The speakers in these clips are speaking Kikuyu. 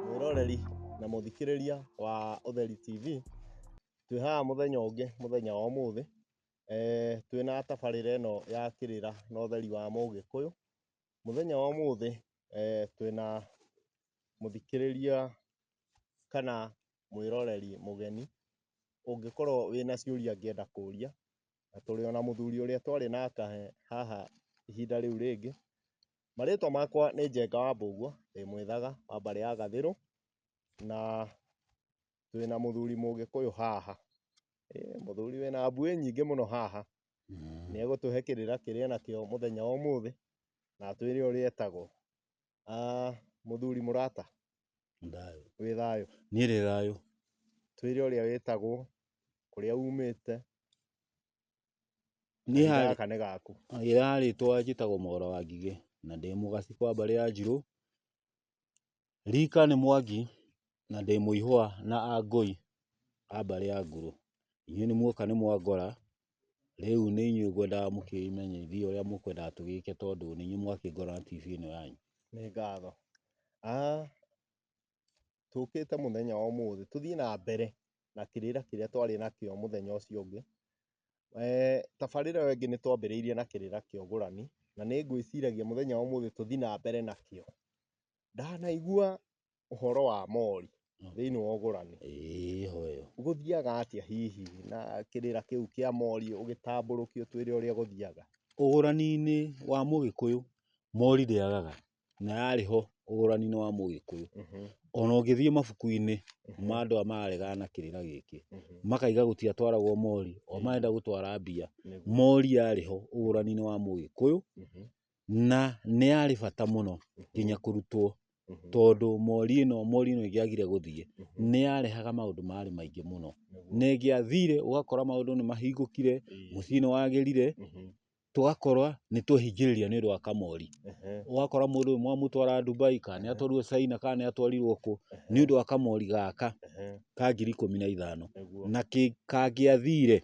Mwĩroreri na mũthikĩrĩria wa Ũtheri TV, twĩ haha mũthenya ũngĩ, mũthenya wa ũmũthĩ, twĩ na tabarĩra ĩno ya kĩrĩra na ũtheri wa mũgĩkũyũ. Mũthenya wa ũmũthĩ twĩ na mũthikĩrĩria kana mwĩroreri mũgeni ũngĩkorwo wĩna ciũria ũngĩenda kũria, na tũrĩ ona mũthuri ũrĩa twarĩ nake haha ihinda rĩu rĩngĩ. Marĩtwa makwa nĩ Njenga wa Mbũguo, ndĩ mwĩthaga wa mbarĩ ya Gathĩrũ, na twĩna mũthuri mũgĩkũyũ haha. Mũthuri wĩna mbuĩ nyingĩ mũno haha, nĩegũtũhe kĩrĩra kĩrĩ nakĩo mũthenya wa ũmũthĩ, na atwĩre ũrĩa etagwo. Ah, mũthuri mũrata Ndayo. wĩ thayũ Niĩ ndĩ thayũ. twĩre ũrĩa wĩtagwo kũrĩa umĩte Niĩ kahinda harĩ- gaka nĩ gaku Ĩra rĩtwa njĩtagwo Mwaũra wa Ngigĩ na ndĩ mũgaci kwa mbarĩ ya Njirũ. Rika nĩ Mwangi na ndĩ mũihũa na Angũi a mbarĩ ya Nguru. Inyuĩ nĩ muoka nĩ mwangora Rĩu nĩ inyuĩ ngwendaga mũkĩmenyithie ũrĩa mũkwendaga tũgĩke tondũ nĩ inyuĩ mwakĩngora na TV ĩno yanyu. Nĩ ngatho. Tũkĩte mũthenya wa ũmũthĩ tũthiĩ na mbere na kĩrĩra kĩrĩa twarĩ nakĩo mũthenya ũcio ũngĩ. Tabarĩra ĩyo ĩngĩ nĩ twambĩrĩirie na kĩrĩra kĩa ũgũrani na nĩ ngwĩciragia mũthenya wa ũmũthĩ tũthiĩ na mbere nakĩo. Ndanaigua ũhoro wa mori thĩinĩ wa ũgũrani gũthiaga atĩa hihi na kĩrĩra kĩu kĩa mori ũgĩtambũrũkio twĩre ũrĩa gũthiaga? Ũgũrani-inĩ wa mũgĩkũyũ mori ndĩagaga na yarĩ ho ũgũrani-inĩ wa mũgĩkũyũ ona ũngĩthiĩ mabuku-inĩ ma andũ arĩa mararegana na kĩrĩra gĩkĩ makauga gũtiatwaragwo mori o marenda gũtwara mbia, mori yarĩ ho ũgũrani-inĩ wa mũgĩkũyũ Na nĩ yarĩ bata mũno nginya kũrutwo tondũ mori ĩno mori ĩno ĩngĩagire gũthiĩ nĩ yarehaga maũndũ marĩ maingĩ mũno. Na ĩngĩathire ũgakora maũndũ nĩ mahingũkire, mũciĩ nĩ wagĩrire, tũgakora nĩ twehingĩrĩria nĩ ũndũ wa kamori. Ũgakora mũndũ ũyũ mwamũtwara Dubai, kana nĩ atwarirwo China, kana nĩ atwarirwo kũ, nĩ ũndũ wa kamori gaka ka ngiri ikũmi na ithano. Na kangĩathire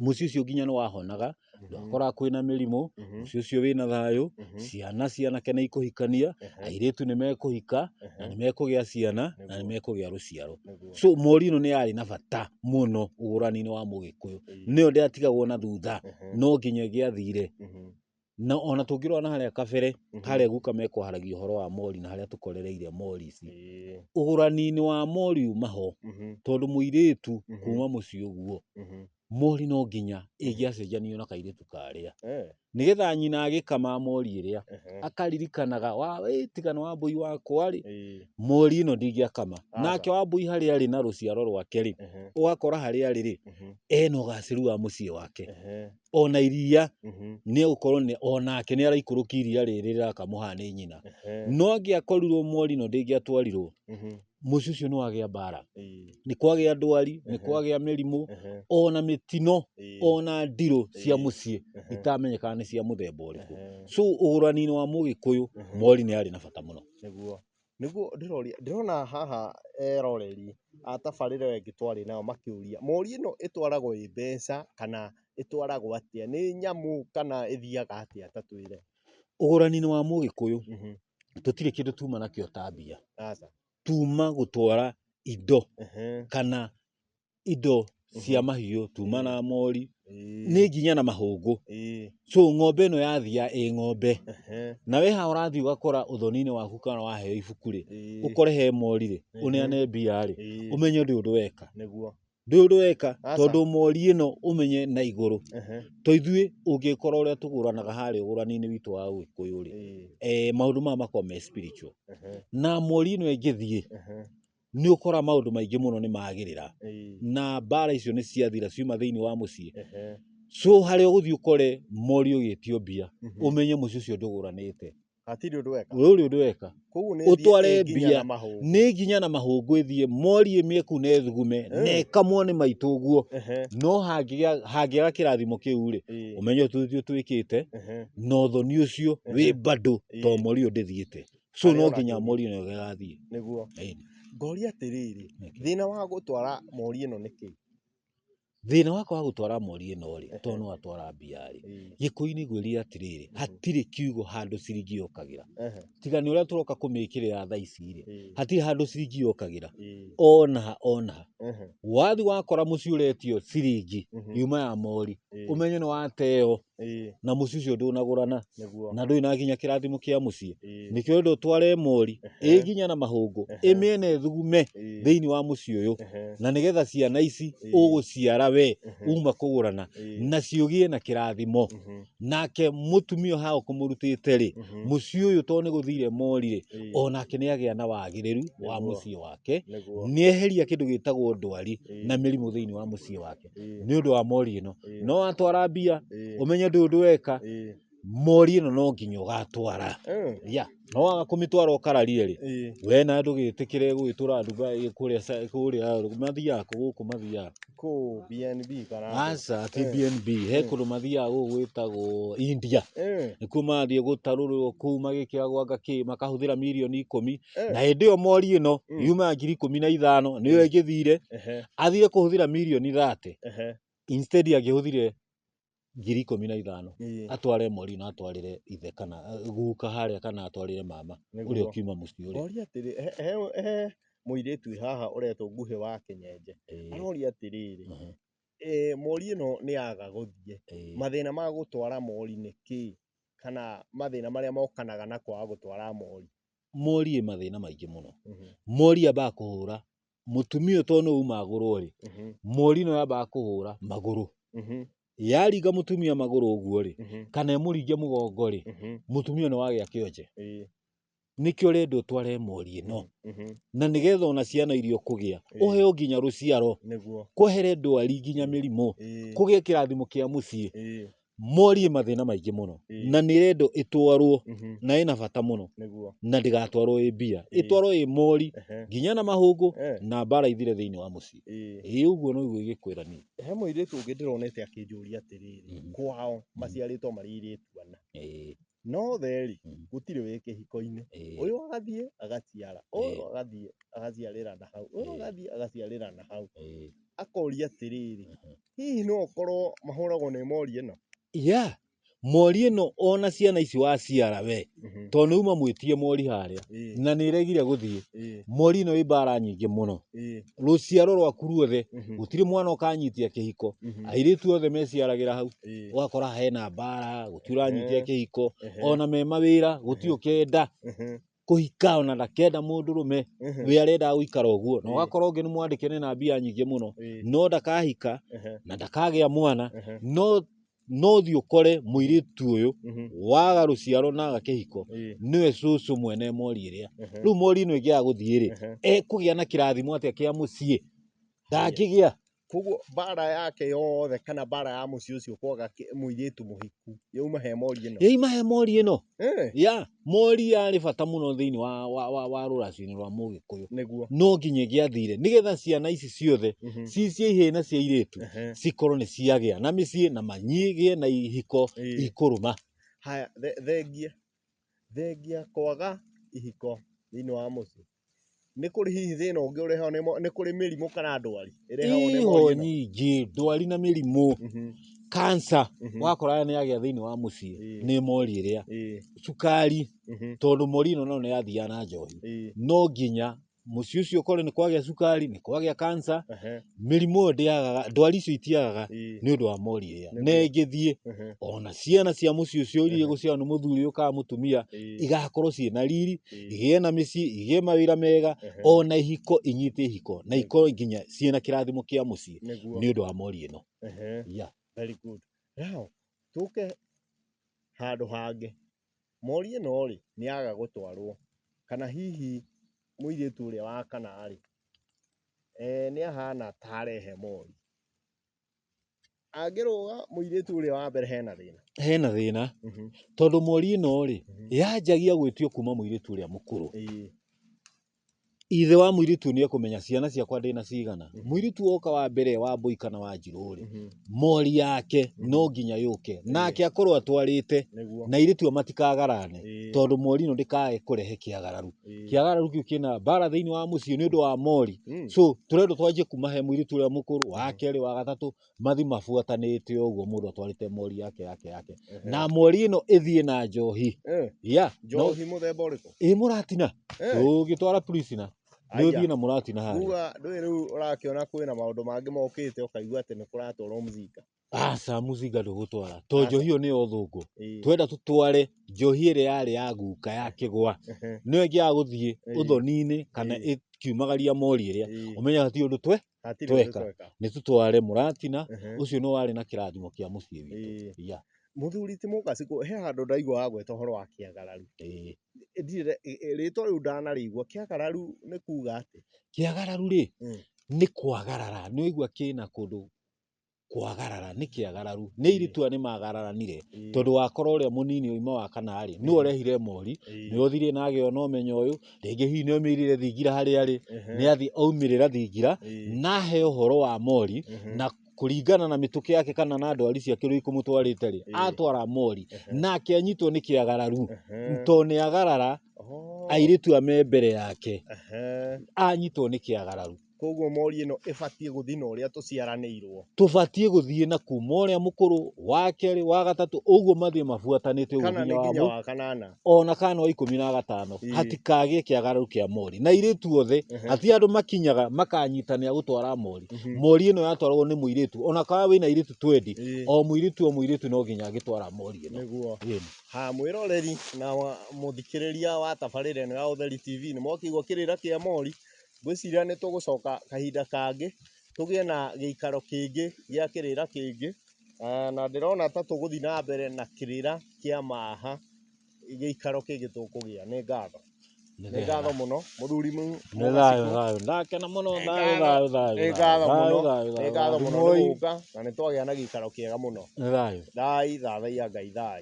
mũciĩ ũcio nginya nĩ wahonaga ndwakoraga kwĩna mĩrimũ mũciĩ ũcio wĩna thayũ ciana cianake nĩ ikũhikania airĩtu nĩ mekũhika na nĩ mekũgĩa ciana na nĩ mekũgĩa rũciaro so mori ĩno nĩ yarĩ na bata mũno ũgũrani-inĩ wa mũgĩkũyũ nĩyo ndĩatigagwo na thutha no nginya ĩgĩathire Na ona tũngĩrora na harĩa kabere Mhm. harĩa guka mekwaragia ũhoro wa mori na harĩa tũkorereire mori ici Ĩĩ. ũgũrani-inĩ wa mori uma ho Mhm. tondũ mũirĩtu Mhm. kuma mũciĩ ũguo Mhm. mori no nginya ĩngĩacenjanio na kairĩtu karĩa Eh. nĩgetha nyina agĩkama mori ĩrĩa Ehe. akaririkanaga wa "Ĩ, tiga nĩ wambũi wakwa rĩ Ĩĩ. mori ĩno ndingĩakama Aca. nake wambũi harĩa arĩ na rũciaro rwake rĩ Ehe. ũgakora harĩa arĩ rĩ Mhm. ena ũgacĩru wa mũciĩ wake Ehe. ona iria Mhm. nĩ gũkorwo nĩ- onake nĩ araikũrũkia iria rĩrĩ rĩrakamwo haha nĩ nyina Ehe. no angĩakorirwo mwori no ndĩngĩatwarirwo Mhm. mũciĩ ũcio nĩ wagĩa mbara Ĩĩ. nĩ kwagĩa ndwari nĩ Ehe. kwagĩa mĩrimũ Ehe. ona mĩtino Ĩĩ. ona ndirũ cia Ĩĩ. mũciĩ Ehe. itamenyekaga nĩ cia mũthemba ũrĩkũ Ehe. so ũgũrani-inĩ wa mũgĩkũyũ Ehe. mori nĩ arĩ na bata mũno Nĩguo. Nĩguo ndĩroria, ndĩrona haha eroreri a tabarĩra ĩyo ĩngĩ twarĩ nayo makĩũria, moria ĩno ĩtwaragwo ĩ mbeca kana ĩtwaragwo atĩa? Nĩ nyamũ kana ĩthiaga atĩa ta twĩre? Ũgũrani-inĩ wa mũgĩkũyũ, tũtirĩ kĩndũ tuma nakĩo ta mbia. Aca. Tuma gũtwara indo kana indo cia mahiũ tuma na mori Ĩĩ, nĩ nginya na mahũngũ ĩĩ, so ng'ombe ĩno yathia ĩ ng'ombe ehe, na we haha ũrathiĩ ũgakora ũthoni-inĩ waku kana waheo ibuku rĩ ĩĩ, ũkore he mori rĩ Mhm. ũneane mbia rĩ ĩĩ, ũmenye ndũĩ ũndũ weka nĩguo ndũĩ ũndũ weka Aca. tondũ mori ĩno ũmenye na igũrũ ehe, to ithuĩ ũngĩkora ũrĩa tũgũranaga harĩa ũgũrani-inĩ witũ wa ũgĩkũyũ rĩ ĩĩ, eh, maũndũ maya makoragwo me spiritual ehe, na mori ĩno ĩngĩthiĩ ehe, nĩ ũkora maũndũ maingĩ mũno nĩ magĩrĩra Ĩĩ. na mbara icio nĩ ciathira ciuma thĩinĩ wa mũciĩ Ehe. so harĩa ũgũthiĩ ũkore mori ũgĩtio mbia Mhm. ũmenye mũciĩ ũcio ndũgũranĩte hatirĩ ũndũ weka rũrĩ ũndũ weka koguo nĩ ũtware thiĩ ĩnginya mbia. na mahũngũ. nĩ nginya na mahũngũ ĩthiĩ mori ĩmĩe kũu na ĩthugume Eh. na ĩkamwo nĩ maitũ ũguo Ehe. no hangĩgĩa- hangĩaga kĩrathimo kĩu rĩ Ĩĩ. ũmenye ũtuthio twĩkĩte Ehe. na ũthoni ũcio wĩ Ehe. mbandũ to Ĩĩ. mori ũyũ ndĩthiĩte so no nginya mori no gagathiĩ niguo Ĩĩ. ngoria atiriri Nĩkĩ? thina wa gutwara mori ino niki thĩna wakwa wa gũtwara mori ĩno rĩ Ehe. tondũ no atwara mbia rĩ gĩkũinĩ gwĩrire atirĩrĩ hatirĩ kiugo handũ ciringi yokagĩra tiga nĩ ũrĩa tũroka kũmĩkĩrĩra thaa ici rĩ hatirĩ handũ ciringi yokagĩra ona ha ona ha wathi wakora mũciĩ ũretio ciringi yuma ya mori ũmenye nĩ wateyo Ĩĩ, na mũciĩ ũcio ndũnagũrana nĩguo. na ndũrĩ na nginya kĩrathimo kĩa mũciĩ Ĩĩ, nĩkĩo enda ũtware mori Ehe. ĩ nginya na mahũngũ Ehe. ĩmĩene thugume ĩĩ, thĩinĩ wa mũciĩ ũyũ ehe, na nĩgetha ciana ici Ĩĩ. ũgũciara we ehe, uma kũgũrana ĩĩ, na ciũgĩe na kĩrathimo mhm, nake mũtumia ũhaga ũkũmũrutĩte rĩ mhm, mũciĩ ũyũ tondũ nĩ gũthire morire ĩĩ, o nake nĩ agĩa na wagĩrĩru wa Nĩguo. mũciĩ wake nĩguo. nĩ eheria kĩndũ gĩtagwo ndwari Ĩĩ. na mĩrimũ thĩinĩ wa mũciĩ wake Ĩĩ. nĩ ũndũ wa mori ĩno Ĩĩ. no watwara mbia Ĩĩ. ũmenye ndũĩ ũndũ weka Ĩĩ. mori ĩno no nginya ũgatwara Ĩĩ. ya no waga kũmĩtwara ũkararire rĩ Ĩĩ. we na ndũgĩtĩkĩre gũgĩtũra nduga ĩ- kũrĩa sa- kũrĩa mathiaga kũ- gũkũ mathiaga Kũ BNB kana atĩa? aca ati Eh. bnb he kũndũ mathiaga gũkũ gwĩtagwo india Ĩĩ. nĩkuo mathiĩ gũtarũrwo kuu magĩkĩagwanga kĩ makahũthĩra mirioni ikũmi Eh. na hĩndĩ ĩyo mori ĩno Mm. yumaga ngiri ikũmi na ithano nĩyo ĩngĩthire Ehe, athire kũhũthĩra mirioni thate ehe. instead angĩhũthire ngiri ikũmi na ithano Ii, atware mori ĩno atwarĩre ithe kana eh, guka harĩa kana atwarĩre mama nĩguo. ũrĩa ũkiuma mũciĩ ũrĩa Oria atĩrĩ, he- he- he mũirĩtu wĩ haha ũretwo nguhĩ wa kĩnyenje. Eh, Aroria atĩrĩrĩ, mhm, e, mori ĩno nĩ yaga gũthiĩ. eh, Mathĩna ma gũtwara mori nĩ kĩĩ? Kana mathĩna marĩa mokanaga na kwaga gũtwara mori. morie mathĩna maingĩ mũno Mhm. mori ambaga kũhũra mũtumia ũyũ tondũ nĩ uma agũrwo rĩ Mhm. mori no yambaga kũhũra magũrũ Mhm. yaringa mũtumia magũrũ ũguo rĩ Mhm. kana ĩmũringe mũgongo rĩ Mhm. mũtumia nĩ wagĩa kĩonje Ĩĩ. nĩkĩo rendo tware mori ĩno Mhm. na nĩgetha ona ciana iria ũkũgĩa Ĩĩ. ũheo nginya rũciaro nĩguo kwehere ndwari nginya mĩrimũ Ĩĩ. kũgĩe kĩrathimo kĩa mũciĩ Ĩĩ. morie mathĩna maingĩ mũno Ĩĩ. na nĩ rendo ĩtwarwo Mhm. na ĩna bata mũno nĩguo na ndĩgatwarwo ĩ mbia Ĩĩ. ĩtwarwo ĩ mori Ehe. nginya na mahũngũ Eh, na mbara ithire thĩinĩ wa mũciĩ ĩĩ. ĩ ũguo noguo ingĩkwĩra niĩ he mũirĩtu ũngĩ ndĩronete akĩnjũria atĩrĩrĩ Mhm. kwao maciarĩtwo marĩ airĩtu ana Ĩĩ. no theri Mm. gũtirĩ wĩ kĩhiko-inĩ Ĩĩ. ũyũ agathiĩ agaciara ũyũ Ĩĩ. agathiĩ agaciarĩra na hau ũyũ Ĩĩ. agathiĩ agaciarĩra na hau Ĩĩ. akoria atĩrĩrĩ Mhm. hihi no ũkorwo mahũragwo nĩ mori ĩno ya mori ĩno ona ciana ici waciara we Mhm. tondũ nĩuma mwĩtie mori harĩa Ĩĩ, na nĩregire gũthiĩ ĩĩ, mori ĩno ĩ mbara nyingĩ mũno ĩĩ. rũciaro rwaku ruothe Mhm. gũtirĩ mwana ũkanyitia kĩhiko Mhm. airĩtu othe meciaragĩra hau Ĩĩ. ũgakora hena mbara gũtirĩ ũranyitia Ehe. kĩhiko Ehe. ona me mawĩra gũtirĩ ũkenda Mhm. kũhika ona ndakenda mũndũ rũme Mhm. we arendaga gũikara ũguo na Ĩĩ. ũgakora ũngĩ nĩ mwandĩke nĩ na mbia nyingĩ mũno Ĩĩ. no ndakahika Ehe. na ndakagĩa mwana Ehe. no no thiĩ ũkore mũirĩtu ũyũ Mhm. waga rũciaro na aga kĩhiko Ĩĩ. nĩwe cũcũ mwene mori ĩrĩa Ehe. rĩu mori ĩno ĩngĩaga gũthiĩ rĩ Ehe. ekũgĩa na kĩrathimo atĩa kĩa mũciĩ ndangĩgĩa koguo mbara yake yothe kana mbara ya mũciĩ ũcio kwaga kĩ- mũirĩtu mũhiku yauma he mori ĩno yaima he mori ĩno Eh. ya mori yarĩ bata mũno thĩinĩ wa, wa, wa, wa rũracio-inĩ rwa mũgĩkũyũ nĩguo no nginya gĩathire nĩgetha ciana ici ciothe Mhm. ci cia ihĩĩ na cia irĩtu Ehe. cikorwo nĩ ciagĩa na mĩciĩ na manyigĩe na ihiko Ĩĩ. ikũrũma haya the- thengia thengia kwaga ihiko thĩinĩ wa mũciĩ Nĩ kũrĩ hihi thĩna ũngĩ ũrehagwo nĩ mo- nĩ kũrĩ mĩrimũ kana ndwari ĩrehagwo nĩ iho morio ĩno? nyingĩ ndwari na mĩrimũ Mhm, kansa mhm, wakora nĩ yagĩa thĩinĩ wa mũciĩ Ĩĩ. nĩ mori ĩrĩa ĩĩ, cukari mhm, tondũ mori ĩno nayo nĩ yathiaga na njohi ĩĩ, no nginya mũciĩ ũcio ũkorwo nĩ kwagĩa cukari nĩ kwagĩa kansa ehe. mĩrimũ ĩyo ndĩagaga ndwari icio itiagaga Ii. nĩ ũndũ wa mori ĩrĩa Nĩguo. na ĩngĩthiĩ Ehe. ona ciana cia mũciĩ ũcio ũririe Ehe. gũciarwo nĩ mũthuri ũyũ kana mũtumia Ii. igakorwo ciĩ na riri Ii. igĩe na mĩciĩ igĩe mawĩra mega Ehe. ona ihiko inyite ihiko na Nĩguo. ikorwo nginya ciĩ na kĩrathimo kĩa mũciĩ Nĩguo. nĩ ũndũ wa mori ĩno Ehe. yeah. Very good. Now, tũke handũ hangĩ. Mori ĩno rĩ, nĩ yaga gũtwarwo, kana hihi mũirĩtu ũrĩa wa kana rĩ, nĩ ahana ta arehe mori. Angĩrũga mũirĩtu ũrĩa wa mbere hena thĩna? Hena thĩna, tondũ mori ĩno rĩ, yanjagia gwĩtio kuma mũirĩtu ũrĩa mũkũrũ. Ithe wa mũirĩtu ũyũ nĩ ekũmenya ciana ciakwa ndĩ na cigana. Mũirĩtu woka wa mbere wa Mbũi kana wa Njirũ rĩ, mori yake no nginya yũke. Nake akorwo atwarĩte Nĩguo. na airĩtu aya matikagarane Ĩĩ. tondũ mori ĩno ndĩkae kũrehe kĩagararu. Ĩĩ. Kĩagararu kĩu kĩna mbara thĩinĩ wa mũciĩ nĩ ũndũ wa mori. Mm. So tũrendwo twanjie kuma he mũirĩtu ũrĩa mũkũrũ, wa kerĩ, wa gatatũ, mathi mabuatanĩte ũguo mũndũ atwarĩte mori yake yake yake na mori ĩno ĩthiĩ na njohi Eh, ya no- njohi mũthemba ũrĩkũ ĩ mũratina Eh, ũgĩtwara prisina nĩ aya. ũthiĩ na mũratina harĩa kuga ndũĩ rĩu ũrakĩona kwĩna maũndũ mangĩ mokĩte ũkaigua atĩ nĩ kũratwarwo mũcinga aca mũcinga ndũgũtwara to Aca. njohi ĩyo nĩyo ũthũngũ Ĩĩ. twenda tũtware njohi ĩrĩa yarĩ ya guka ya kĩgwa Ehe. nĩyo ĩngĩaga gũthiĩ Ĩĩ. ũthoni-inĩ kana Ĩĩ. ĩkiumagaria mori ĩrĩa Ĩĩ. ũmenya ti ũndũ twe Hatirĩ ũndũ Tweka. tweka. nĩ tũtware mũratina Ehe. ũcio nĩ warĩ na kĩrathimo kĩa mũciĩ witũ Ĩĩ. Iya, Mũthuri ti mũkaci kũ- he handũ ndaigua wagweta ũhoro wa kĩagararu. ĩĩ. Ndirĩ rĩtwa rĩu ndanarĩigua kĩagararu nĩ kuga atĩ. kĩagararu rĩ Mm. nĩ kwagarara nĩ waigua kĩna kũndũ kwagarara nĩ kĩagararu nĩ iritũ aya nĩ magararanire Ĩĩ. tondũ wakora ũrĩa mũnini ũyũ imwe wa kana rĩ nĩ ũrehire mori Ĩĩ. nĩ ũthire na agĩona ũmenyo ũyũ rĩngĩ hihi nĩ oimĩrire thingira harĩa arĩ Ehe. nĩ athiĩ aumĩrĩra thingira Ĩĩ. na ahe ũhoro wa mori Ehe. na kũringana na mĩtũkĩ yake kana na ndwari ciake ũrĩa ikũmũtwarĩte rĩ Ĩĩ. atwara mori Ehe. nake anyitwo nĩ kĩagararu Ehe. to nĩ agarara Oh. airĩtu aya me mbere yake Ehe. anyitwo nĩ kĩagararu Kwoguo mori ĩno ĩbatiĩ gũthiĩ na ũrĩa tũciaranĩirwo. Tũbatiĩ gũthiĩ na kuma ũrĩa mũkũrũ, wa kerĩ, wa gatatũ, ũguo mathiĩ mabuatanĩte ũguo Kana nĩ nginya nginya wa wa kanana. ona kana wa ikũmi na gatano Ĩĩ. hatikagĩe kĩagararo kĩa mori na irĩtu othe Ehe. ati andũ makinyaga makanyitanĩra gũtwara mori mori ĩno yatwaragwo nĩ mũirĩtu ona kana wĩna airĩtu twendi Ĩĩ. o mũirĩtu o mũirĩtu no nginya agĩtwara mori ĩno Nĩguo. Ĩĩ. Ha mwĩroreri na wa- mũthikĩrĩria wa tabarĩra ĩno ya Ũtheri TV nĩ mwakĩigua kĩrĩra kĩa mori Ngwĩciria nĩ tũgũcoka kahinda kangĩ, tũgĩe na gĩikaro kĩngĩ gĩa kĩrĩra kĩngĩ, na ndĩrona ta tũgũthiĩ na mbere na kĩrĩra kĩa ma ha, gĩikaro kĩngĩ tũkũgĩa. Nĩ ngatho. Nĩ ngatho mũno, mũthuri Nĩ thayũ thayũ. Ndakena mũno thayũ thayũ thayũ. Nĩ ngatho mũno, nĩ ngatho mũno nĩ gũka, na nĩ twagĩa na gĩikaro kĩega mũno. Nĩ thayũ. Thai, thathaiya Ngai thai.